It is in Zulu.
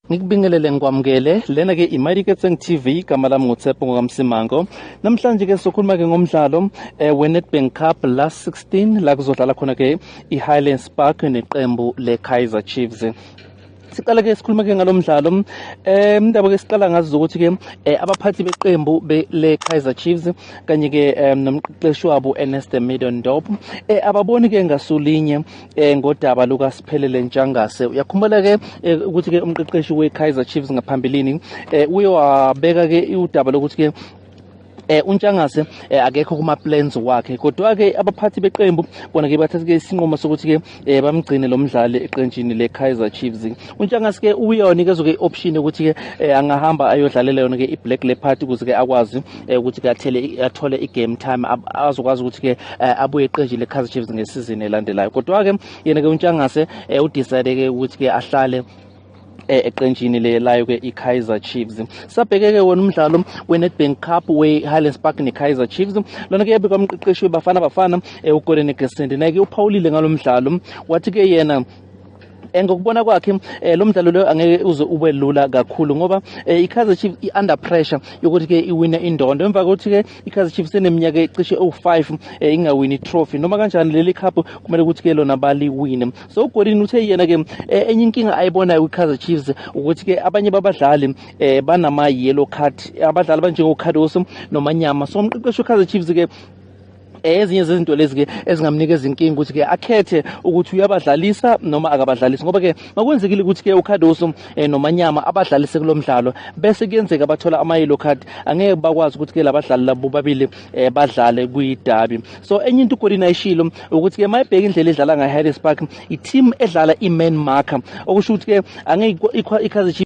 Ngikubingelele ngikwamukele lena ke iMighty Ketseng TV igama lami nguTshepo ngokamsimango namhlanje ke sokhuluma ke ngomdlalo eh, weNedbank Cup last 16 la kuzodlala khona ke iHighlands Park neqembu leKaizer Chiefs siqala ke sikhuluma ke ngalomdlalo eh indaba ke siqala ngazo ukuthi ke eh, abaphathi beqembu le Kaizer Chiefs kanye ke eh, nomqeqeshi wabo Ernest Middendorp eh ababoni ke ngasulinye eh ngodaba luka Siphelele Ntshangase uyakhumbula ke eh, ukuthi ke umqeqeshi we Kaizer Chiefs ngaphambilini eh, uye wabeka ke udaba lokuthi ke eh uNtshangase eh, akekho kuma plans wakhe kodwa ke abaphathi beqembu bona ke bathathe isinqumo sokuthi ke eh, bamgcine lo mdlali eqenjini le Kaizer Chiefs uNtshangasike uyona ke zoke ioption ukuthi ke eh, angahamba ayodlalela yona ke iBlack Leopard ukuze ke akwazi eh, ukuthi ke athele athole igame time azokwazi ukuthi ke eh, abuye eqenjini leKaizer Chiefs ngesizini elandelayo kodwa ke yena ke uNtshangase udecide ke ukuthi ke ahlale Eh, eqenjini lelayo ke iKaizer Chiefs sabheke ke wona umdlalo weNedbank Cup weHighlands Park neKaizer Chiefs lona ke yabika umqeqeshi weBafana Bafana eh, uGolden Gesendineke uphawulile ngalomdlalo wathi ke yena Eh, ngokubona kwakhe eh, lo mdlalo lo angeke uze ube lula kakhulu ngoba eh, i-kaizer chiefs i-under pressure yokuthi-ke iwine indondo emva kokuthi-ke i-kaizer chiefs eneminyaka ecishe ewu-five ingawini itrophy noma kanjani leli cup kumele ukuthi-ke lona baliwine so ugolini uthe yena-ke enye inkinga ayibonayo kwi-kaizer chiefs ukuthi-ke abanye babadlali um banama-yellow card abadlali abanjengocardoso nomanyama so umqeqeshi we-kaizer chiefs-ke Eh, ezinye zezinto lezi-ke ezingamnikeza inkinga ukuthi-ke akhethe ukuthi uyabadlalisa noma akabadlalisi ngoba-ke makwenzekile ukuthi-ke ucardoso um eh, nomanyama abadlalise kulo mdlalo bese kuyenzeka bathola ama-yellow card angeke bakwazi ukuthi-ke labadlali labo babili um badlale kwidabi so enye into ugolini ayishilo ukuthi-ke ma ebheka indlela edlala ngaharris park i-team edlala i-man marker okusho ukuthi-ke angeke ikhazi